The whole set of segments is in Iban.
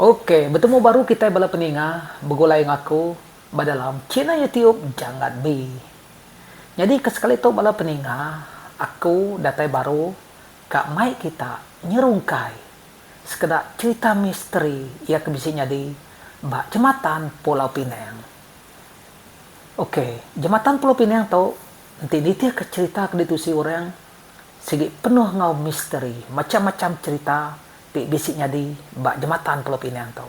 Ok betemu baru kitai bala peninga begulai enggau aku ba dalam channel youtube janggat be nyadi ke sekali tu bala peninga aku datai baru ka mai kita nyerungkai sekeda cherita misteri iya ke bisi nyadi ba jematan pulau pinang ok jematan pulau pinang tu enti nitih ke cherita ke ditusi orang sigi penuh enggau misteri macham-macham cherita ti bisi nyadi ba Jematan Pulau Pinang tu.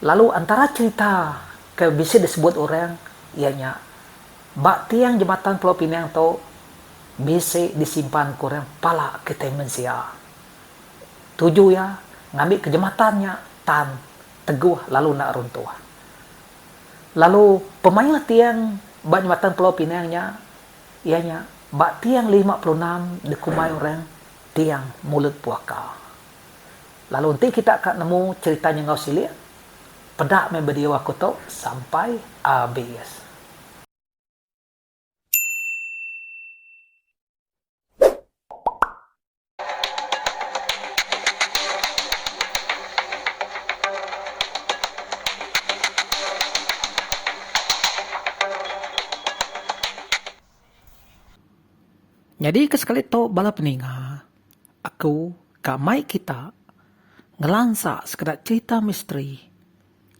Lalu antara cherita ke bisi disebut orang iya nya ba tiang Jematan Pulau Pinang tu bisi disimpan ke orang pala kitai mensia. Tuju iya ngambika jematan nya tan teguh lalu enda runtuh. Lalu pemaioh tiang ba Jematan Pulau Pinang nya. Iya nya, ba tiang lima puluh enam dikumbai orang Tiang Mulut Puaka. Lalu enti kita ka nemu cherita nya enggau silik, peda meh video aku tu sampai abis. Nyadi ke sekali tu bala peninga aku ka mai kita ngelansa sekeda cherita misteri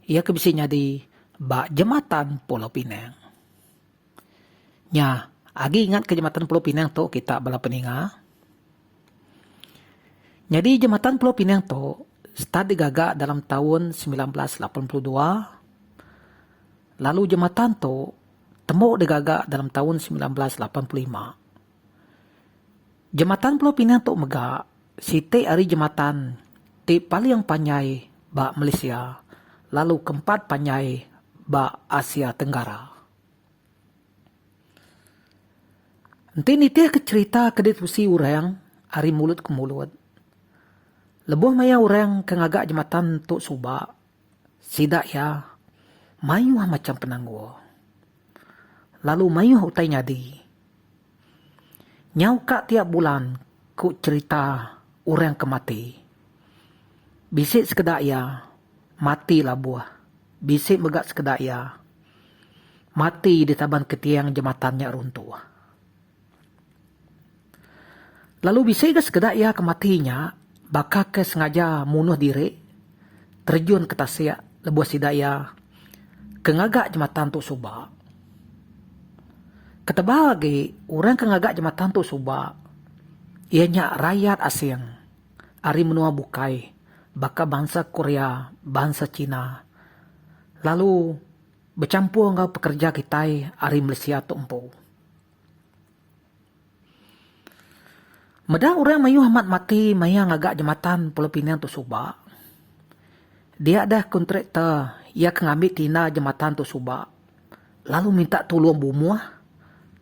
iya ke bisi nyadi ba jematan Pulau Pinang. Nya, agi ingatka jematan Pulau Pinang tu kita bala peninga. Nyadi jematan Pulau Pinang tu start digaga dalam taun semilan belas lapan puluh dua lalu jematan tu tembu digaga dalam taun semilan belas lapan puluh lima. Jematan Pulau Pinang tu mega siti ari jematan ti paling panjai ba Malaysia lalu keempat panjai ba Asia Tenggara. Enti nitihka cherita ke diterusi orang ari mulut ke mulut, lebuh maya orang ke ngaga jematan tu suba Sida iya mayuh macham penanggul, lalu mayuh utai nyadi. Nyau ka tiap bulan ku cherita orang ke mati. Bisi sekeda iya mati labuh, bisi mega sekeda iya mati ditaban ketiang jematan nya runtuh. Lalu bisi ga sekeda iya ke mati nya baka ke sengaja munuh diri terjun ke tasik lebuh sida iya ke ngaga jematan tu suba. Ketebal agi orang ke ngaga jematan tu suba iya nya rayat asing ari menua bukai baka bansa Korea, bansa China lalu bechampur enggau pekerja kitai ari Malaysia tu empu. Meda orang mayuh amat mati maya ngaga jematan Pulau Pinang tu suba. Dia deh kontraktor iya ke ngambi tina jematan tu suba lalu minta tulung bumuh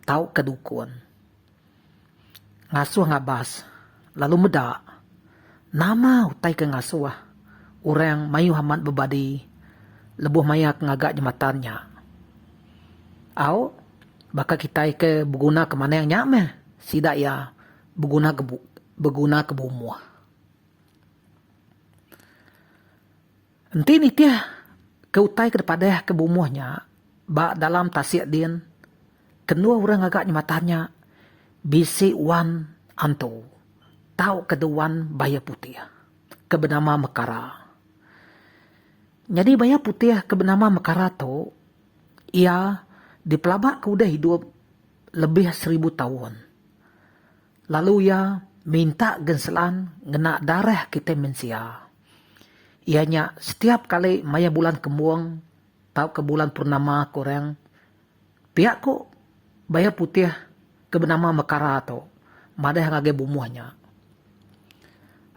tauka dukun. Ngasuh ngabas, lalu meda nama utai ke ngasuh orang mayuh amat bebadi lebuh maya ke ngaga jematan nya. Au, baka kitai ke beguna ke manang nya meh sida iya beguna ke beguna ke bumuh. Enti nitih ke utai ke dipadah ke bumuh nya ba dalam tasik din kenduh urang ngaga nyematan nya bisi wan antu tau ke de wan bayuh putih ke benama mekara. Nyadi bayuh putih ke benama mekara tu iya dipelaba ke udah idup lebih seribu taun. Lalu iya minta genselan ngena darah kitai mensia, iya nya setiap kali maya bulan kembung tauka bulan purnama ke orang pia ku bayau putih ke benama mekara tu madah ngagai bumuh nya.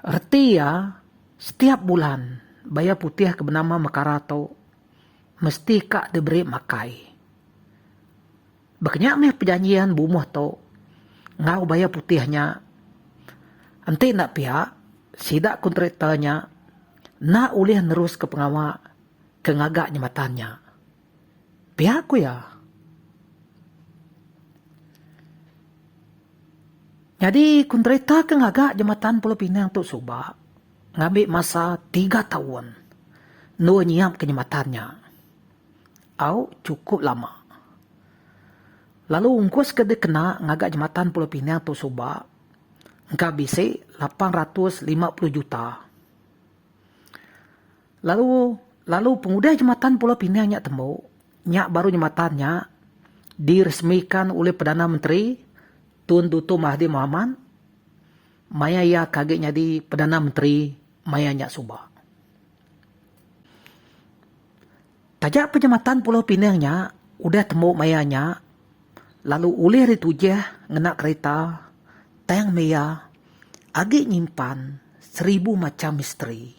Reti iya setiap bulan bayau putih ke benama mekara tu mesti ka diberi makai. Baka nya meh pejanjian bumuh tu enggau bayar putih nya. Enti enda pia, sida kontraktor nya enda ulih neruska pengawa ke ngaga jematan nya, pia ku iya. Nyadi kontraktor ke ngaga jematan Pulau Pinang tu suba ngambi masa tiga taun endur nyiapka jematan nya. tau chukup lama. Lalu ungkus ke dikena ngaga Jematan Pulau Pinang tu suba engka bisi lapan ratus lima puluh juta. Lalu lalu pengudah Jematan Pulau Pinang nya tembu, nya baru jematan nya diresmikan ulih Perdana Menteri Tun Duto Mahathir Mohamad maya iya ke agi nyadi Perdana Menteri maya nya suba. Taja penyemetan Pulau Pinang nya udah tembu maya nya lalu ulih ditujih ngena kerita tang maya agi nyimpan seribu macham misteri.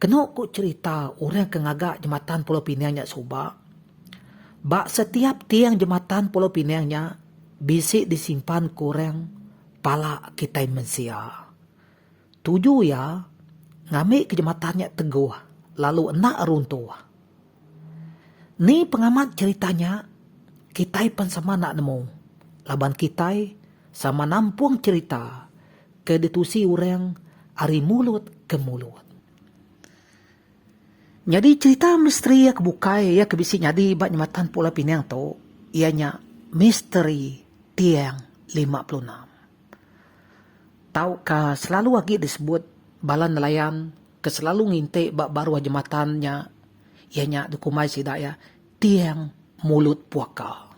Kenu ku cherita orang ke ngaga jematan Pulau Pinang nya suba, ba setiap tiang jematan Pulau Pinang nya bisi disimpan ku orang pala kitai mensia. Tuju iya ngambika jematan nya teguh lalu enda runtuh. Ni pengamat cherita nya? Kitai pen sama enda nemu laban kitai sama nampung cherita ke ditusi orang ari mulut ke mulut. Nyadi cherita misteri iya ke bukai iya ke bisi nyadi ba Jematan Pulau Pinang tu iya nya Misteri Tiang Lima Puluh Enam. Tauka selalu agi disebut bala nelayan ke selalu nginti ba baruh jematan nya iya nya dikumbai sida iya tiang mulut puaka.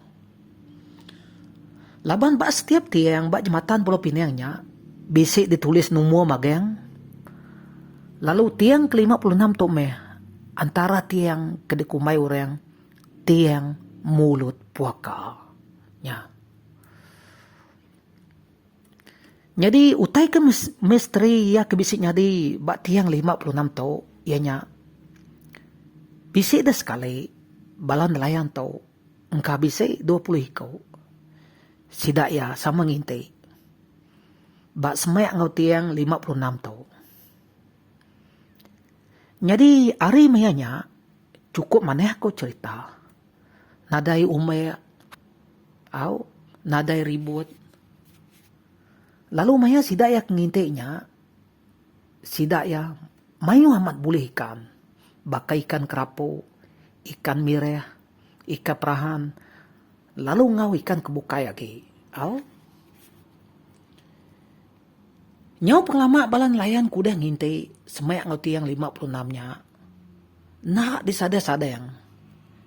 Laban ba setiap tiang ba jematan Pulau Pinang nya bisi ditulis numur magang lalu tiang ke lima puluh enam tu meh antara tiang ke dikumbai orang tiang mulut puaka nya. Nyadi utai ke misteri iya ke bisi nyadi ba tiang lima puluh enam tu iya nya bisi deh sekali bala nelayan tu engka bisi dua puluh iku sida iya sama nginti ba semak enggau tiang lima puluh enam tu. Nyadi ari maya nya chukup manah ku cherita nadai umik. Au nadai ribut. Lalu maya sida iya ke nginti nya, sida iya mayuh amat bulih ikan, baka ikan kerapu, ikan mireh, ikan perahan, lalu enggau ikan ke bukai agi. Au. Nyau pengelama bala nelayan ke udah nginti semak enggau tiang lima puluh enam nya enda disadang-sadang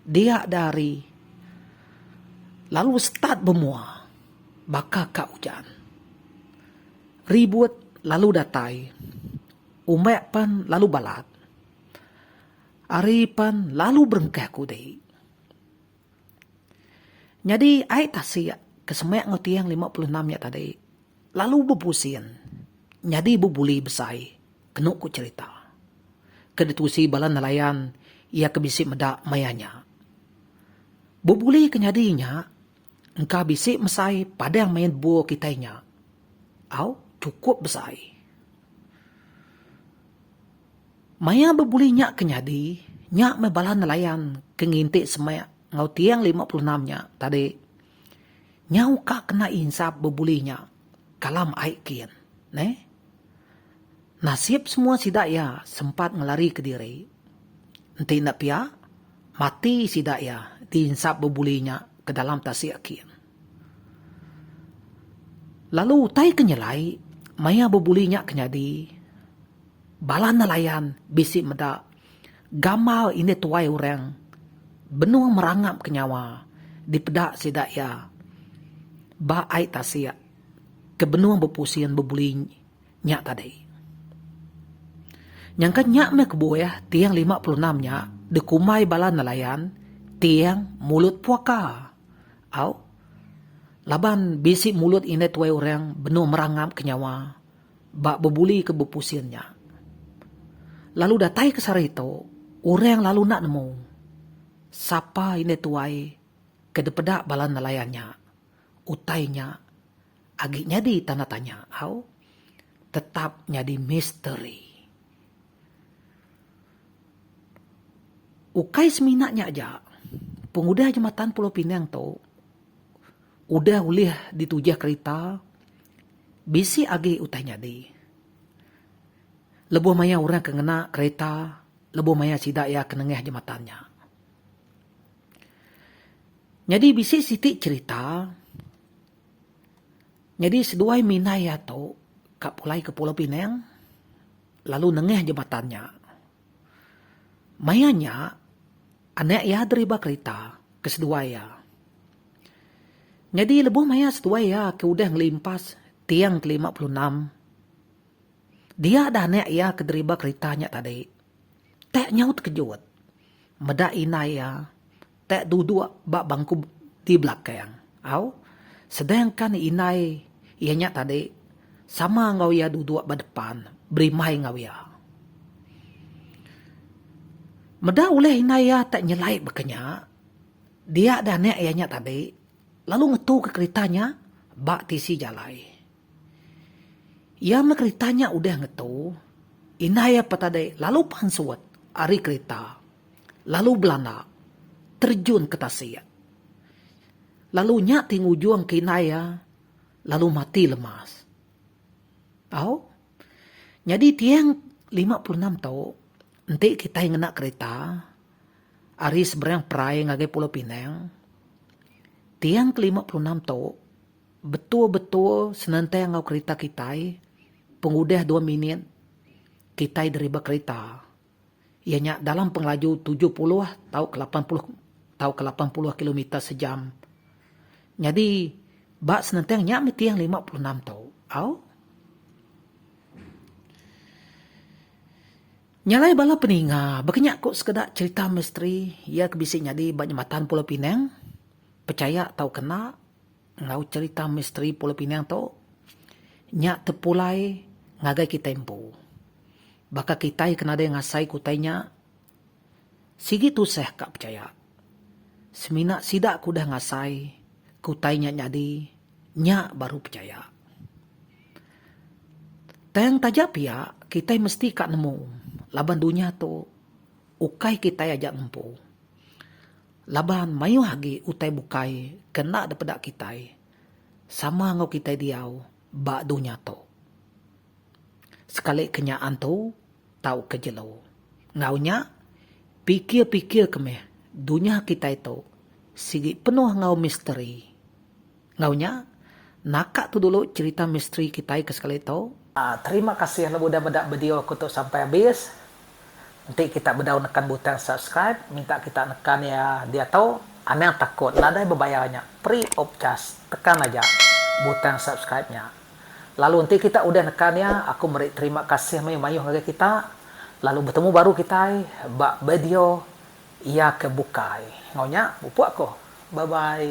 dia da hari lalu start bemua baka ka ujan ribut lalu datai umbak pan lalu balat hari pan lalu berengkah kudi. Nyadi ai tasik ke semak enggau tiang lima puluh enam nya tadi lalu bepusin nyadi bebuli besai kenu ku cherita ke ditusi bala nelayan iya ke bisi meda maya nya. Bebuli ke nyadi nya engka bisi mesai padang main bol kitai nya au chukup besai. Maya bebuli nya ke nyadi, nya meh bala nelayan ke nginti semak enggau tiang lima puluh enam nya tadi. Nyau ka kena insap bebuli nya kalam ai kin. Neh. Nasib semua sida iya sempat ngelari ke diri. Enti enda pia, mati sida iya diinsap bebuli nya ke dalam tasik kin. Lalu utai ke nyelai, maya bebuli nya ke nyadi, bala nelayan bisi meda gamal indik tuai orang benung merangapka nyawa dipeda sida iya ba ai tasik ke benung bepusin bebuli. nya tadi. Nyangka nya meh kebuah tiang lima puluh enam nya dikumbai bala nelayan tiang mulut puaka. Au. Laban bisi mulut indai tuai orang benung merangapka nyawa ba bebulika bepusin nya. Lalu datai ke sehari tu, orang lalu enda nemu sapa indai tuai ke dipeda bala nelayan nya. Utai nya Agi nyadi tanda tanya au tetap nyadi misteri. Ukai semina nya aja, pengudah jematan Pulau Pinang tu udah ulih ditujih kerita, bisi agi utai nyadi. Lebuh maya orang ke ngena kerita, lebuh maya sida iya ke nengah jematan nya. Nyadi bisi siti cherita. Nyadi seduai minai iya tu ka pulai ke Pulau Pinang lalu nengah jematan nya. Maya nya anak iya deriba kerita ke seduai iya. Nyadi lebuh maya seduai iya ke udah ngelimpas tiang ke lima puluh enam, dia dah anak iya ke deriba kerita nya tadi. Tak nyau tekejut meda indai iya. Tek duduk ba bangku di belakang au, sedangkan indai iya nya tadi sama enggau iya duduk ba depan berimbai enggau iya. Meda ulih indai iya tek nyelai baka nya, dia deh anak iya nya tadi lalu ngetuka kerita nya ba tisi jalai. Iya meh kerita nya udah ngetu, indai iya pa tadi lalu pansut ari kerita. Lalu belanda terjun ke tasik. Lalu nya ti ngujung ke indai iya lalu mati lemas. Au. Nyadi tiang lima puluh enam tu enti kitai ngena kereta ari seberang perai ngagai Pulau Pinang, tiang ke lima puluh enam tu betul-betul senentang enggau kereta kitai pengudah dua minit kitai deriba kereta. iya nya dalam pengelaju tujuh puluh tauka lapan puluh tauka lapan puluh kilometer sejam. Nyadi, ba senentang nya mih tiang lima puluh enam tu. Au. Nya alai bala peninga, baka nya ku sekeda cherita misteri iya ke bisi nyadi ba nyematan Pulau Pinang, pechaya tauka enda, Enggau cherita misteri Pulau Pinang tu, nya tepulai ngagai kitai empu. Baka kitai ke nadai ngasai ke utai nya, sigi tusah ka pechaya. Semina sida ke udah ngasai ke utai nya nyadi, nya baru pechaya. Tang taja pia, kitai mesti ka nemu laban dunya tu ukai kitai aja ngempu. Laban mayuh agi utai bukai ke enda dipeda kitai sama enggau kitai diau ba dunya tu. Sekali ke nya antu tauka jelu. Enggau nya, pikir-pikirka meh dunya kitai tu sigi penuh enggau misteri Enggau nya, naka tu dulu cherita misteri kitai ke sekali tu. Terima kasih lalu udah meda video aku tu sampai habis. Enti kita bedau nekan butang subscribe, minta kita nekan iya diatu. Anang takut nadai bebayar nya, free of charge. Tekan aja butang subscribe nya. Lalu enti kita udah nekan iya, aku meri terima kasih meh mayuh ngagai kita. Lalu betemu baru kitai ba bedio iya ke bukai. Enggau nya, pupuk aku. Bye bye.